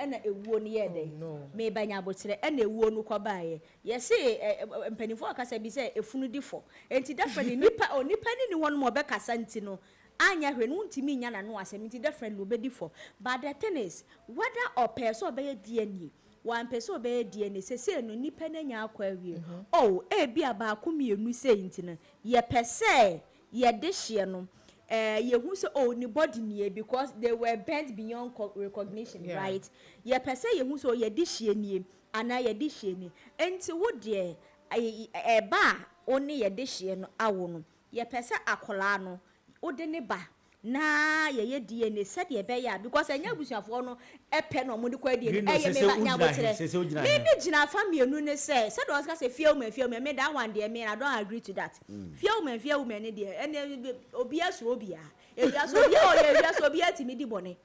Speaker 1: na ewuo no yɛɛ dɛn? Meba Nyaboterɛ na ewuo no kɔ baeɛ. Yɛse ɛ mpaninfoɔ wɔ kasa bi sɛ efunu di fɔ. Enti definitely nipa o nipa no nni hɔ nom a ɔbɛkasa nti no anyɛ hwee no wontumi nnya n'ano asɛm nti definitely obedi fɔ. But the thing is whether ɔpɛɛ sɛ ɔbɛyɛ DNA, wampɛ sɛ ɔbɛyɛ DNA sesei no nipa no anya akɔ awie. Oh ebia baako mmienu sei nti no yɛpɛ sɛ yɛ dehyeɛ no eh yɛhu sɛ oh ne body nie because they were burnt beyond recognition yeah. right yɛpɛ sɛ yɛhu sɛ oh yɛ dehyeɛ nie anaa yɛ dehyeɛ nie enti wo deɛ ɛba a wo ne yɛ dehyeɛ no awo no yɛpɛ sɛ akwadaa no wode ne ba na yɛyɛ DNA sɛdeɛ ɛbɛyɛ a because ɛnyɛ abusuafoɔ no pɛ na wɔde kɔyɛ DNA no ɛyɛ me ba nya aboterɛ me me gyina afa mmienu ne sɛ sɛdeɛ wɔn sika sɛ fear woman fear woman me that one deɛ me I don't agree to that fear woman fear woman ne deɛ ɛnɛ obiara soro obiara ewia so obiara ɔyɛ ewia so obiara tìmi di bɔne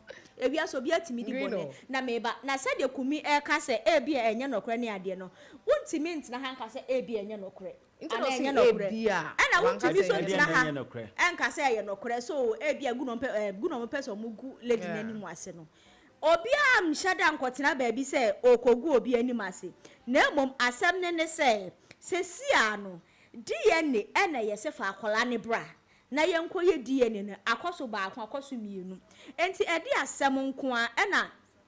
Speaker 1: ewia so obiara tìmi di bɔne na me ba na sɛdeɛ kumi ɛka sɛ ebi a ɛnyɛ nɔkorɛ ne adeɛ no wontìmi ntena ha nka sɛ ebi ɛnyɛ nɔkorɛ. Anaa ɛnyɛ nɔkorɛ? Ɛna wontumi nso ntena ha nka sɛ ɛyɛ nɔkorɛ. So ebia gu na wɔpɛ ɛɛ gu na wɔpɛ sɛ wɔgu lady no anim ase no. Obiara nhyɛ da nkɔtena baabi sɛ ɔrekɔgu obi anim ase. Na mmom asɛm no ne sɛ, seesei ara no, DNA ɛna ɛyɛ sɛ fa akwadaa no bra na yɛnkɔyɛ DNA no. Akɔ so baako, akɔ so mmienu. Enti ɛde asɛm nko ara na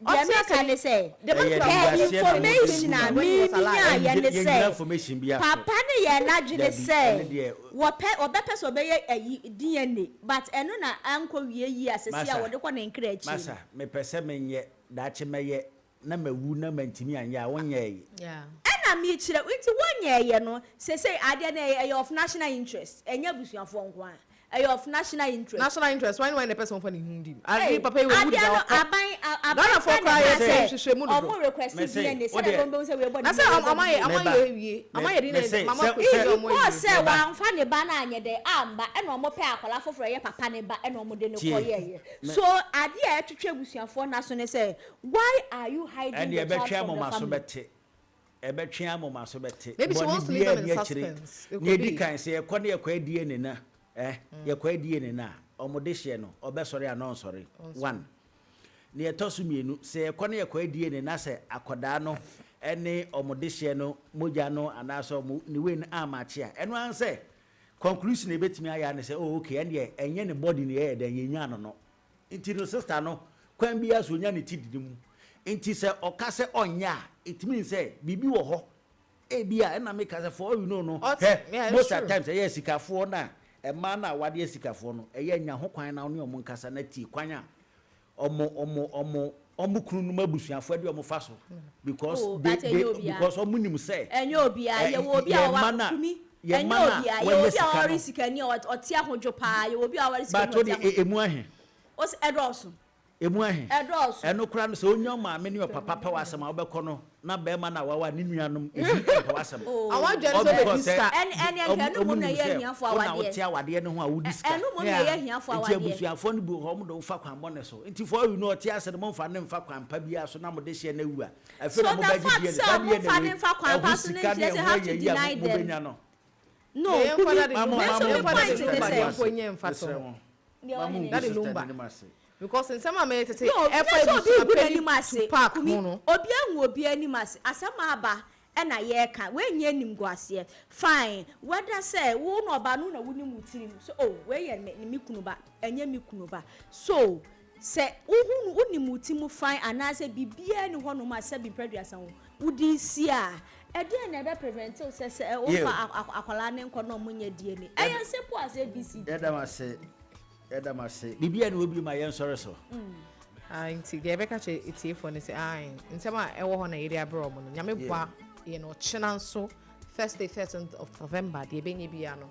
Speaker 1: Deɛ meka ne sɛ, pɛ information a me nyaeɛ ne sɛ, papa no yɛɛ n'adwene sɛ wɔpɛ, ɔbɛpɛ sɛ ɔbɛyɛ ayi, DNA, but ɛno na ankɔ wie yie a sɛsei a wɔde kɔ ne nkra akyi no. Masa, mepɛ sɛ menyɛ,
Speaker 2: daakye mɛyɛ, na mawu na mantumi anyɛ a, wonyɛɛye. Ɛna
Speaker 1: mekyerɛ, nti wonyɛɛyɛ no, sɛsei adeɛ no ɛyɛ of national interest, ɛnyɛ abusuafoɔ nko ara, Ɛyɛ of national interest. National interest wai ne wai na ɛpɛ sɛ wɔfa ne ho
Speaker 3: di mu? Ade Ei, papa yi wawu adeɛ deda no, ɔkɔ. aban, a, aban Ghanafoɔ kura na koraa ɛkaa yɛ sɛ
Speaker 1: sɛ nhwehwɛ mu dodo. wɔn request Mese, DNA sɛdeɛ wodeɛ. ɛbɛn bɛhu sɛ wei bɔ ne Na sɛ ho na wei ɔmo bɔ ɔmo ne ho ayɛ ban. ɔmo Meba. ayɛ
Speaker 3: awie, ɔmo ayɛ DNA Mese, ma ɔmo sɛ- akɔ sɛ- akosua ɔmo Because awie.
Speaker 1: sɛ Meba. wamfa ne ba no anyɛ dɛn amma ɛna ɔmo pɛ akwadaa foforɔ ɛyɛ papa ne ba ɛna ɔmo de no Tie. kɔyɛɛyɛ. Me- So adeɛ a ɛtwetwe abusuafoɔ nna so ne sɛ why are you hiding Ɛnde the child ɛbɛtwɛn from mo the ma so family? bɛte. Ɛbɛtwe
Speaker 2: a moma so bɛte. Maybe she wants to leave them in
Speaker 3: suspense. It could be. Kan sɛ
Speaker 2: yɛkɔ ne yɛkɔ adie ne na eh yɛkɔ adie ne na a wɔn de hyɛ no ɔbɛsɔre anaa ɔnsɔre one ne ɛtɔ so mmienu sɛ yɛkɔ ne yɛkɔ adie ne na sɛ akɔdaa no ɛne wɔn de hyɛ no mogya no anaasɛ wɔn ne wei no amakye a ɛno ara sɛ conclusion ebetumi ayɛ ne sɛ oh okay ɛndeɛ ɛnyɛ ne body ne yɛyɛ dɛn yɛnyaa no no Nti no sister no kwan biara so ɔnya ne ti didi mu. Nti sɛ ɔka sɛ ɔnyɛ a it means sɛ biribi wɔ hɔ. Ebia ɛna me ka sɛ for all you know no hwɛ most at times ɛyɛ asikafoɔ na mmaa no a wɔadeɛ asikafoɔ no ɛyɛ nya ho kwan na wo ne wɔn nkasa na tie kwan a wɔn wɔn wɔn Ɔmo kunu nom abusuafo ɛde ɔmo fa so because oh, they, they, because ɔmo nim sɛ ɛnyɛ obiara eh, yɛwɔ
Speaker 1: obi a ɔwa kumi ɛnyɛ obiara yɛwɔ obi a ɔwari sika ni ɔte ahodwo paa yɛwɔ obi a ɔwari sika ni ɔte ahodwo emu ahe
Speaker 2: ɔsi ɛdɔɔso
Speaker 1: emu ahe
Speaker 2: ɛdɔɔso ɛno kora no sɛ onya ɔmaame ne ɔpapa pa wɔ asɛm a ɔbɛkɔ no na barima no a wawa ne nuanom bi mpɛ w'asɛm. All because
Speaker 3: sɛ wɔn
Speaker 1: nim sɛ wo na wote awadeɛ no ho
Speaker 2: a wodi sika. Yeah,
Speaker 1: nti abusuafoɔ no bi wɔ hɔ
Speaker 2: wɔn de wo fa kwan bɔne so. Nti for all you know ɔte ase no momfa no mfa kwan pa biara so na mo de hyɛ no awu a, afei na mobɛgye deɛ no. Saa deɛ na wei, ɛho
Speaker 1: sika ne ɛho ayiayi a mobɛnya no. No, Kumi, me nso me point ne sɛ, mesrɛ
Speaker 3: mo. ma mo ngu so tɛ n'anim ase. Because nsɛm a mɛyɛ tete ɛfa abusua panyin
Speaker 1: Tupac ho no. Obi angu obi anim ase asɛm aba ɛna yɛka wei nyɛ animguaseɛ fine whether sɛ wo na ɔbaa no na wonim wo tirim sɛ oh wei yɛ me me kunu ba ɛnyɛ me kunu ba so sɛ wohu no wonim wo ti mu fine anaasɛ biribiara ni hɔnom a sɛbi mprɛduasa wo wode si a Ɛdeɛn na ɛbɛ prevent wo sɛ sɛ wo fa akwadaa no nkɔ na ɔmo nyɛ DNA? Ɛyɛ simple as ABC. Yɛda mo ase, yɛda mo ase.
Speaker 2: Biribi a na wɔ bio ma yɛn sɔre so. Ae nti
Speaker 3: deɛ yɛbɛka kyerɛ atiefoɔ no sɛ ae nsɛm a ɛwɔ hɔ na yɛde abrɛ wɔn no nyame boa yɛn ɔkyena nso Thursday 13th of November deɛ ɛbɛnya biara no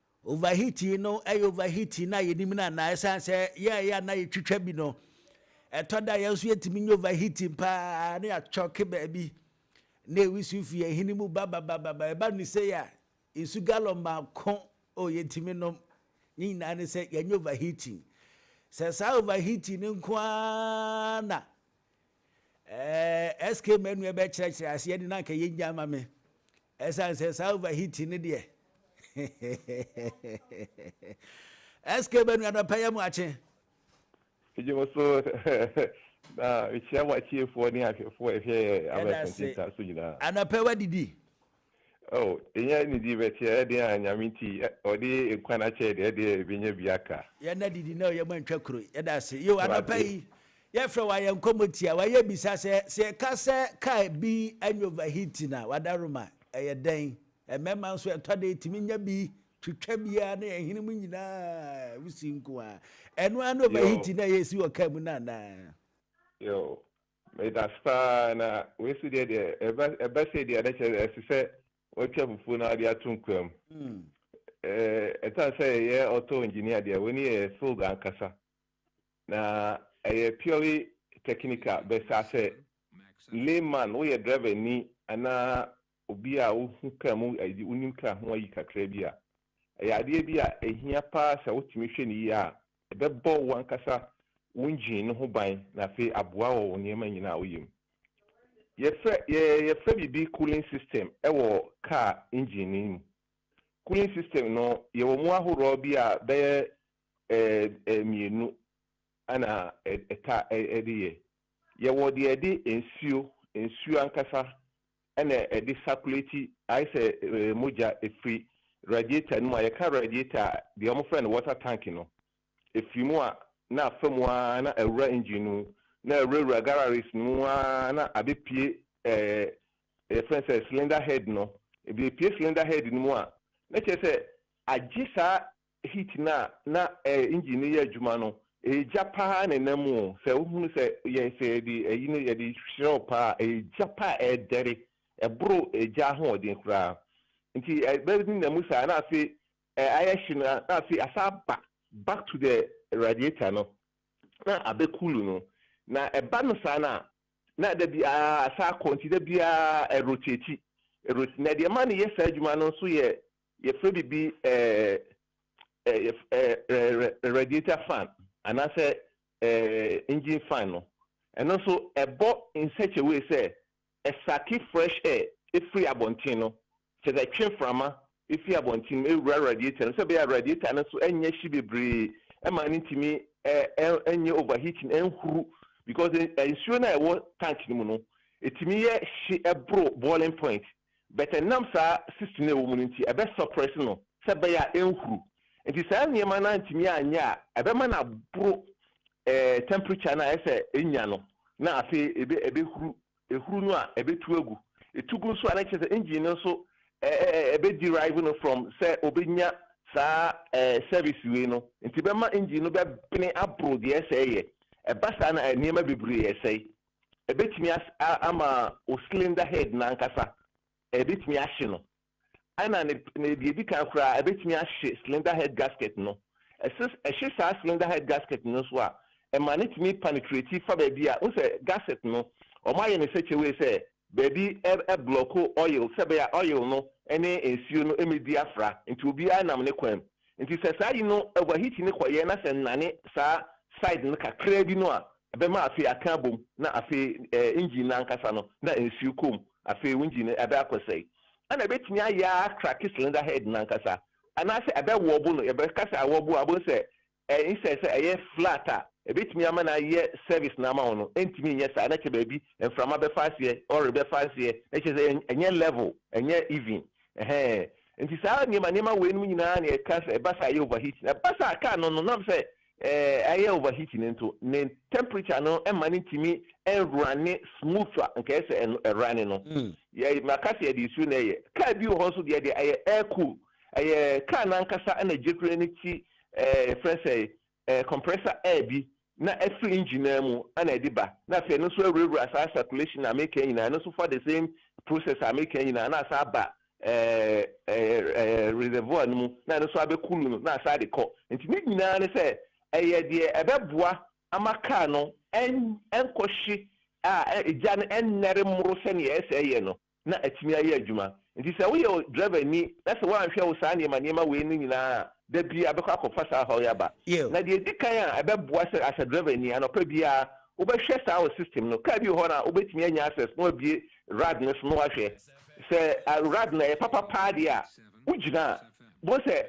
Speaker 2: Overheating no yɛ overheating no a yɛnim no anaa? Ɛsiane sɛ yɛn a ɛyɛ a na yɛtwitwa bi no, ɛtɔ da yɛn nso yɛtumi nyɛ overheating paa na yɛakyɔke baabi na ɛwi so fi yɛn hene mu bababababa. Ɛba no sei a, nsu gallon baako o yɛtumi nom. Ne nyinaa ne sɛ yɛnyɛ overheating. Sɛ saa overheating no nko ara na ɛɛ SK Manu ɛbɛkyerɛkyerɛ aseɛ ne na anka yɛnya ama me. Ɛsan sɛ saa over heating no deɛ SK bɛ nua dɔ pɛ yɛ mo akye. Megye
Speaker 6: mo so na mekyia mo atiefoɔ ne ahwɛfoɔ ɛhwɛ Abɛ Kente Star so nyinaa. Anɔpɛ wadidi?
Speaker 2: Oh,
Speaker 6: ɛnyɛ nidi bɛt yɛyɛ deɛ a Nyame nti ɔde nkwa no akyɛ yɛ deɛ ɛdeɛ ɛbɛnya bi aka. Yɛn adidi na ɔyɛ
Speaker 2: mo antwa kuro. Yɛda ase. Yo, anɔpɛ yi Yɛfrɛ wo ayɛ nkɔmmɔ tia wo ayɛ bisa sɛ sɛ yɛka sɛ car bi anya overheating a wada roma ɛyɛ dɛn? Mmarima nso ɛtɔ da yɛtumi nya bi twitwa bi ara na yɛn hwene mu nyinaa wusi nko ara. Ɛno ara ne overheating no a ɛresi wɔ car mu no anaa? Yoo,
Speaker 6: medase paa na wei so deɛ deɛ ɛba ɛba sei deɛ na kyerɛ ɛsɛ sɛ watwa fufuo na ɔde ato nkoa mu. Ɛɛ ɛtan sɛ yɛyɛ auto engineer deɛ wei ne yɛ field ankasa. Na ɛyɛ purely technical bɛsa sɛ layman woyɛ driver ni anaa obi a wohu car mu ayi wonim car ho ayi kakra bi a ɛyɛ adeɛ bi a ɛhia paa sɛ wotumi hwɛ no yie a ɛbɛbɔ wo ankasa wo engine no ho ban na afei aboa wɔ wo nneɛma nyinaa a woyɛ mu. Yɛfrɛ yɛ yɛfrɛ biribi cooling system ɛwɔ car engine no mu. Cooling system no yɛwɔ mu ahoroɔ bi a bɛyɛ mmienu na ɛtaa de yɛ. Yɛwɔ deɛ ɛde nsuo, nsuo ankasa na ɛde sakulati, ayɛ sɛ mogya firi radiator no mu a, yɛka radiator a, deɛ wɔfrɛ no water tank no, ɛfiri mu a na afa mu ara na awura engine no mu, na awurawura garages no mu ara na abɛpue yɛfrɛ no sɛ cylinder head no, ɛbɛpue cylinder head no mu a, na kyerɛ sɛ agye saa heat no a na ɛɛ engine no yɛ adwuma no ɛyɛ gya paa na ɛnam mu o sɛ wohunu sɛ yɛ sɛ yɛde ayi no yɛde hyerɛw paa ɛyɛ gya paa a ɛɛdɛre ɛboro gya ahoɔden koraa nti ɛbɛ ne nam mu saa na afei ɛɛ ayɛ hye no na afei asa aba back to the radiator no na abɛ cool no na ɛba no saa na na da bi aa asa akɔ nti da bi aa ɛrotate ɛrot na deɛ ɛma no yɛ saa adwuma no nso yɛ Yɛfrɛ biribi radiator fan anaasɛ engine fan no, ɛno nso ɛbɔ in such a way sɛ ɛsake fresh air firi abɔnten no, kyerɛ sɛ ɛtwe mframa firi abɔnten no mu ɛwura radiator no mu sɛ ɛbɛyɛ a radiator no nso nyɛ hye bebree ɛma no ntumi nyɛ overheating, ɛnhuru because nsuo no a ɛwɔ tank no mu no, ɛtumi yɛ hye boro boiling point But ɛnam saa cyst no a ɛwɔ mu no nti, ɛbɛ suppress no sɛ ɛbɛyɛ a ɛnhuru. Nti saa nneɛma no antumi anyɛ a, ɛbɛma no aboro ɛɛ temperature no a ɛsɛ sɛ ɛnya no, na afei ɛbɛ ɛbɛhuru. Ɛhuru no a, ɛbɛtu agu. Ɛtu gu nso a, na kyerɛ sɛ engine no nso ɛ ɛ ɛ ɛbɛ derive no from sɛ ɔbɛnya saa ɛɛ service wei no. Nti ɛbɛma engine no bɛbene aboro deɛ ɛsɛ sɛ ɛyɛ. Ɛba saa no a, nneɛma bebree sɛe. ɛbɛtumi ama wo cylinder head no ankasa, ɛbɛtumi ahye no. Ɛna ne ne deɛ ɛdi kan koraa, ɛbɛtumi ahye cylinder head gasket no. Ɛse ɛhye saa cylinder head gasket no nso a, ɛma no tumi penetrate fa baabi a, wohu sɛ gasket no, wɔayɛ no such a way sɛ baabi blɔko oil sɛ ɛbɛyɛ a oil no ne nsuo no mmɛdi afra, nti obiara nam ne kwan mu. Nti sɛ saa yi no overheat no kɔeɛ na sɛ nnane saa side no kakraa bi no a, ɛbɛma afei aka abom na afei ɛɛ engine no ankasa no na nsuo kɔ mu, afei wo engine no ɛbɛ akɔsɛe. Ɛna ɛbɛtumi ayɛ ara akrake cylinder head no ankasa anaasɛ ɛbɛ wɔɔbo no, yɛbɛka sɛ awɔɔbo a wobɛhu sɛ ɛɛ instead sɛ ɛyɛ flat a ɛbɛtumi ama no ayɛ service no ama wo no ɛntumi nyɛ saa na kyɛ baabi mframa bɛfa aseɛ, oil bɛfa aseɛ na kyerɛ sɛ ɛnyɛ level, ɛnyɛ even. Ɛhɛɛ. Enti saa nneɛma nneɛma weinom nyinaa na yɛka sɛ ɛba sɛ ayɛ overheating. Ɛba sɛ a car no no nam sɛ ɛɛ ayɛ overheating nto, ne temperature no mma no ntumi nrunne smooth a nka ɛsɛ sɛ ɛno ɛrunne no. Yɛ maka sɛ yɛde nsuo na ɛyɛ. Car bi wɔ hɔ nso deɛ deɛ ɛyɛ air cool. Ɛyɛ car no ankasa na gyekure no ti ɛɛ yɛfrɛ sɛ Ɛyɛ compressor air bi na ɛfiri engine no ara mu na ɛde ba na afei ɛno nso awurawura saa circulation a meka yi nyinaa, ɛno nso fa the same process a meka yi nyinaa na asan aba reservoir no mu na ɛno nso abɛ cool no na asan de kɔ. Nti ne nyinaa ne sɛ ɛyɛ deɛ ɛbɛboa ama car no ɛnkɔhye a egya no ɛnnɛre mmoro sɛdeɛ ɛsɛ yɛ no. na atumi ayɛ adwuma. Enti sɛ woyɛ drɛvani na sɛ woanhwɛ wo saa nneɛma nneɛma wei no nyinaa a, da bi abɛkɔ akɔfa saa ɔhaw yi aba. Yiw. Na deɛ ɛdi kan a ɛbɛboa sɛ as a drɛvani, anɔpa biara wobɛhwɛ saa wo system no. Kaa bi wɔ hɔ no a wobɛtumi anya access na wabue rad no so na woahwɛ. Sɛ rad no ɛyɛ papa paa deɛ a, wogyina a, wobɛhu sɛ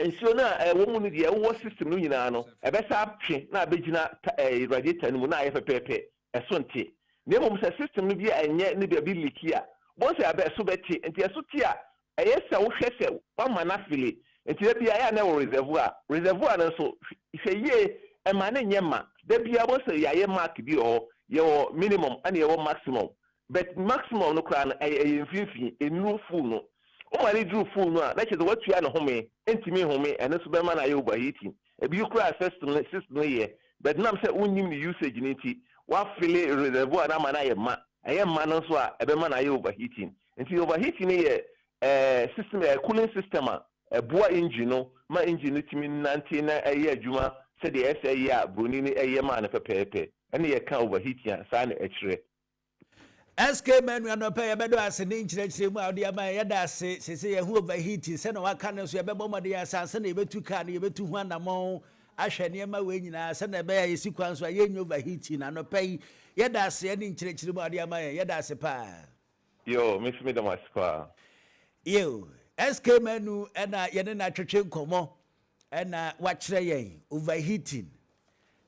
Speaker 6: nsuo no a ɛwɔ mu no deɛ ɛwowɔ system no nyinaa no, ɛbɛsan atwe na abɛgyina ta ɛɛ radiator no mu na ayɛ pɛpɛɛpɛ. ɛso nte, na mmom sɛ system no bi anyɛ ne baabi leaki a, wobɛhu sɛ ɛbɛ ɛso bɛte, nti ɛso te a ɛyɛ sɛ wohwɛ sɛ woama no afili, nti da biara ɛyɛ a na ɛwɔ reservoir, reservoir no nso hwɛ yie mma no nyɛ ma, da biara wobɛhu sɛ yɛayɛ mark bi wɔ hɔ, yɛwɔ minimum ɛna yɛwɔ maximum, But maximum no koraa no ɛyɛ ɛyɛ mfinfini, ɛnuru full no. Woma no duru full no a, na kyerɛ sɛ woatua no home, ɛntumi nhome, ɛno nso bɛma no ayɛ overheating. Ɛbio koraa system no system no yɛ, but nam sɛ wonnim ne usage no nti, woafele reservoir no ama no ayɛ ma, ɛyɛ mma no nso a, ɛbɛma no ayɛ overheating. Nti overheating no yɛ ɛɛ system ɛɛ cooling system a ɛboa engine no ma engine no tumi nante na ɛyɛ adwuma sɛdeɛ ɛsɛ yɛ a broni no ɛyɛ maa no pɛpɛɛpɛ. Ɛne yɛka overheating a, saa na ɛkyerɛ.
Speaker 2: SK Manu anɔpa yi ɛbɛdɔ ase ne nkyerɛkyerɛ mu a ɔde ama yɛn da ase sese yɛn ho overheating sɛ na waka no nso yɛbɛbɔ mmɔden yɛ asan sɛ na yɛbɛtu kaa no yɛbɛtu ho anamɔn ahwɛ nneɛma wei nyinaa sɛ na ɛbɛyɛ yɛsi kwan so a yɛnyɛ overheating anɔpa yi yɛda ase ne nkyerɛkyerɛ mu a ɔde ama yɛn yɛda ase paa yo me
Speaker 6: nso meda mo ase paa yo
Speaker 2: SK Manu ɛna yɛne no atwetwe nkɔmmɔ Ɛna wakyerɛ yɛn overheating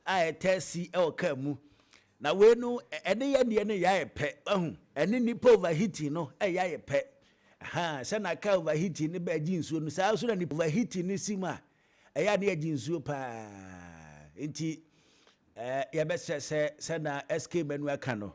Speaker 2: a ɛtaa si wɔ car mu. Na wei no ɛne yɛn deɛ no yɛ ayɛ pɛ wahu. Ɛne nnipa overheating no ɛyɛ ayɛ pɛ. Ahaa sɛ na car overheating no bɛ gye nsuo no saa nso na nipa overheating no si mu a ɛyɛ a na yɛgye nsuo paa. Nti ɛɛ yɛbɛsrɛ sɛ sɛnea SK Manu aka no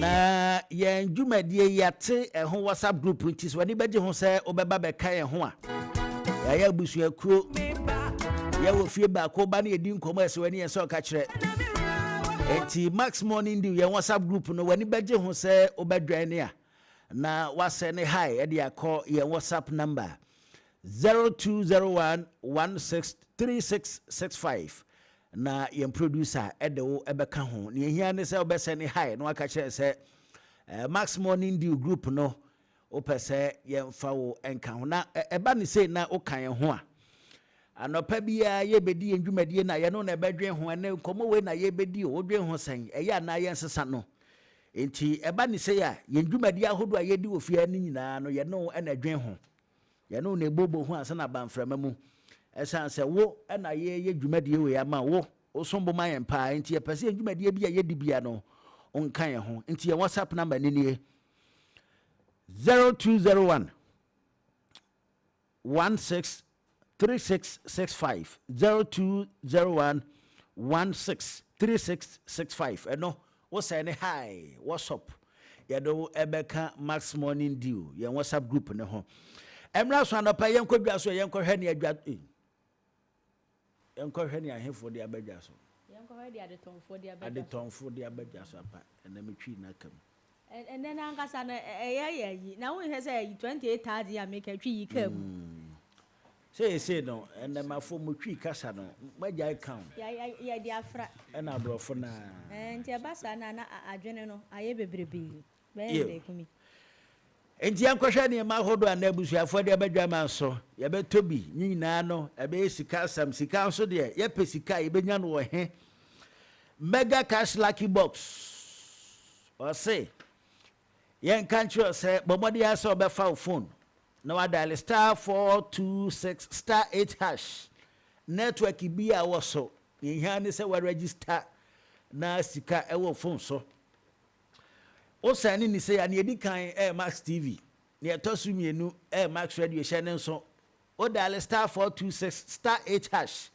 Speaker 2: Na yɛn dwumadie yi ate ɛho WhatsApp group nti so w'ani bɛgye ho sɛ wobɛba bɛka yɛn ho a yɛayɛ abusuakuo yɛwɔ fie baako ba ne yɛdi nkɔmmɔ ɛsɛ w'ani yɛn sɛ ɔka kyerɛ nti max morning dew yɛn WhatsApp group no w'ani bɛgye ho sɛ wobɛdwɛn ne a na wasɛ ne hi ɛde akɔ yɛn WhatsApp number 0201 163665 Na yɛn producer de wo bɛka ho. Nea ehia ne sɛ wobɛsɛ ne hi na waka kyerɛ sɛ Max Morning Dew group no wopɛ sɛ yɛmfa wo nka ho. Na ɛba ne sei na woka yɛn ho a, anɔpa biara yɛbɛdi yɛn dwumadie no a yɛno na ɛbɛdwen ho. Ɛnɛ nkɔmmɔ wei na yɛbɛdi o, wodwen ho sɛn? Ɛyɛ anaa yɛnsesa no? Nti ɛba ne sei a, yɛn dwumadie ahodoɔ a yɛdi wɔ fie ha no nyinaa no yɛne wo na ɛdwen ho. Yɛne wo na ɛbobɔ hu ansa na aba mframa mu. Ɛsiane sɛ wo na yɛreyɛ dwumadie wei ama wo, wo som bo ma yɛn paa nti yɛpɛ sɛ yɛn dwumadie bi a yɛdi bia no wo nka yɛn ho. Nti yɛn WhatsApp number no nie, 0201 16 3665 0201 16 3665 ɛno Wo sɛɛ ne Hi, what's up? Yɛde wo ɛbɛka Max Morning Dew, yɛn WhatsApp group no ho. Ɛmra so anɔpa yi yɛnkɔ dwa so yɛnkɔ hwɛ nea dwa eh, yɛnkɔ hwɛ nea ahefo de aba dwa so. Yɛnkɔ hwɛ deɛ adetɔnfoɔ
Speaker 1: de aba dwa so. Adetɔnfoɔ
Speaker 2: de aba dwa so apa, ɛnɛ metwii n'aka mu. Ɛnɛ no
Speaker 1: ankasa no ɛyɛ yɛ ayi, na wonhwɛ sɛ ayi 28 thousand yi a meka twi yi kaa mu. Mm.
Speaker 2: Seesei no, nnɛmafo, mo Twi kasa no, moagyae ka ho. Ya, ya, yɛde afra.
Speaker 1: Ɛna aborɔfo no ara.
Speaker 2: Ɛɛ, nti ɛba saa
Speaker 1: no a, na a, adwene no ayɛ bebrebe. Bɛyɛ Yiw. mmeeku mi. Enti
Speaker 2: yɛnkɔhwɛ nneɛma ahorow a na abusuafo de aba dwaman so. Yɛbɛtɔ bi. Ne nyinaa no, ɛbɛyɛ sika asɛm. Sika nso deɛ, yɛpɛ sika a, yebenya no wɔ he? Mega Cash Lucky Box. Ɔse, Yɛnka nkyerɛ wo sɛ bɔ mmɔden ara sɛ wobɛfa wo fon na woadaele star four two six star eight hash network bi a wɔ so. Nea ehia ara ne sɛ woarɛgyista na sika wɔ wo fon so. Wo sɛne ne sei a, nea edi kan yɛ Max TV, nea ɛtɔ so mmienu yɛ Max Radio, hyɛ no nso Wo daale star four two six star eight hash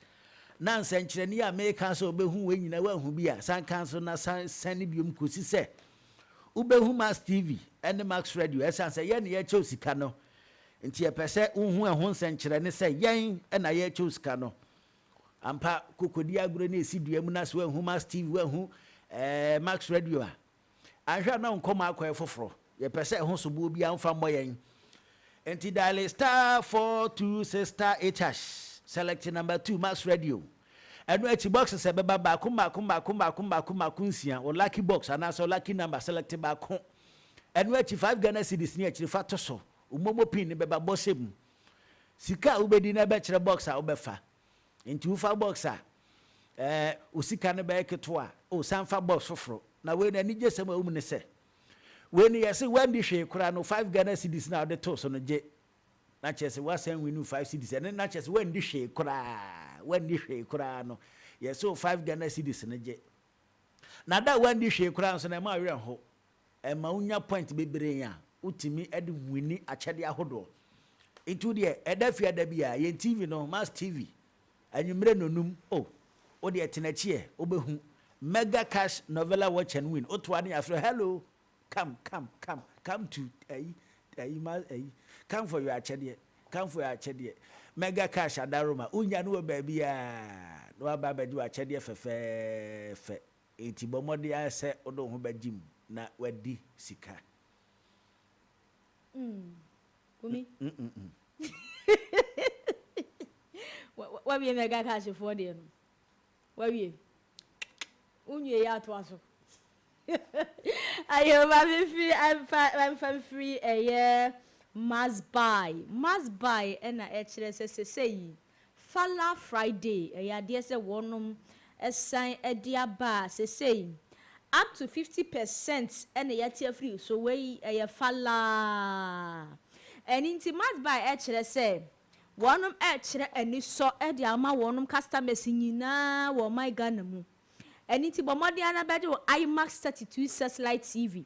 Speaker 2: na nsɛnkyerɛnne yi a meeka sɛ wobehu wei nyinaa woanhu bi a, san ka so na san sɛne biom kosi sɛ wobehu Max TV ne Max Radio. Ɛsiane sɛ yɛn na yɛrekyɛ wo sika no nti yɛpɛ sɛ wohu ɛho nsɛnkyerɛnne sɛ yɛn na yɛrekyɛ wo sika no. Ampa, kokodi agorɔ na esi dua mu na sɛ woanhu Max TV, woanhu ɛɛ Max Radio a, Anhwɛ a na nkɔm akɔ yɛ foforo. Yɛpɛ sɛ ɛho soboɔ biara mfa mmɔ yɛn. Nti diale star four two six star eight hash, select number two, max radio. Ɛno akyi boxes a ɛbɛba baako mmaako mmaako mmaako mmaako mmaako nsia, wo lucky box anaasɛ wo lucky number, select baako. Ɛno akyi five Ghana cedis ne akyiri fa to so. Wo momo pin no bɛba, bɔ hyɛ mu. Sika a wobɛdi no bɛkyerɛ box a wobɛfa. Nti wofa box a ɛɛ wo sika no bɛyɛ ketewa a, o san fa box foforo. Na wei no anigyesɛm a ɛwɔ mu ne sɛ, wei no yɛse woanni hwee koraa no, five Ghana cedis no a wode too so no gye na kyerɛ sɛ woasan wini wo five cedis. Ɛno na kyerɛ sɛ woanni hwee koraa, woanni hwee koraa no, yɛse wo five Ghana cedis no gye. Na da a woanni hwee koraa nso no, ɛmma wo werɛ nho. ɛma wo nya point bebree a wo tumi de wini akyɛdeɛ ahodoɔ nti wo deɛ ɛda fie ada bi a yɛn tv no mass tv anwummerɛ nonum o oh, wo deɛ tenakyiɛ wobɛhu mega cash novella watch and win woto ane afrɛ hello come come come come to ayi ayi ma ayi come for your akyɛdeɛ come for your akyɛdeɛ mega cash adaroma wonya no wɔ baabi a na waba abɛgye wɔ akyɛdeɛ fɛfɛɛfɛ Enti bɔ mmɔden ara sɛ wode wo ho bɛgye mu na woadi sika. Mm,
Speaker 1: Kumi. Wawie mega cash foɔ deɛ no? Wawie? Wonwie yɛ atoa so. Ayo ma me firi amfa amfa mfiri ɛyɛ must buy must buy ɛna ɛkyerɛ sɛ sɛsɛ yi Fala Friday ɛyɛ adeɛ sɛ wɔnom ɛsan ɛde aba a sesei up to fifty percent ɛna yɛate afiri so wei ɛyɛ Fala ɛno nti Matbay ɛkyerɛ sɛ wɔnom ɛkyerɛ anisɔ ɛde ama wɔnom customers nyinaa wɔ ɔman Ghana mu ɛno nti bɔ mmɔden ara na bɛgye wo IMAX thirty two searchlight TV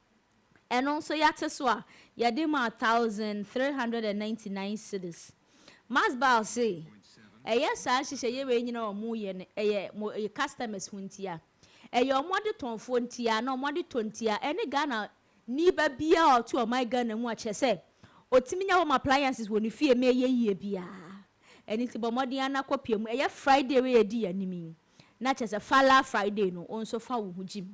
Speaker 1: Ɛno nso yɛate so a, yɛde maa one thousand three hundred and ninety nine cedis. Masbal se, Ɛyɛ saa nhyehyɛeɛ wei nyinaa a wɔyɛ no, ɛyɛ mo customers ho ntia. Ɛyɛ wɔn adetɔnfoɔ ntia na wɔn adetɔ ntia ɛne Ghana ni ba biara a ɔte ɔman Ghana mu a kyerɛ sɛ ɔtumi nya home appliances wɔ ne fie ma ɛyɛ yie biara. Ɛno nti bɔ mmɔden ara na kɔ pia mu. Ɛyɛ Friday wei a ɛdi yɛn anim yi na kyerɛ sɛ Fala Friday no wo nso fa wo ho gye mu.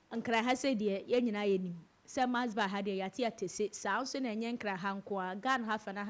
Speaker 1: Nkran ha sei deɛ yɛn nyinaa yɛnim sɛ Mass ba ha deɛ yɛate atese saa nso na ɛnyɛ Nkran ha nko ara, Ghana ha fa no aha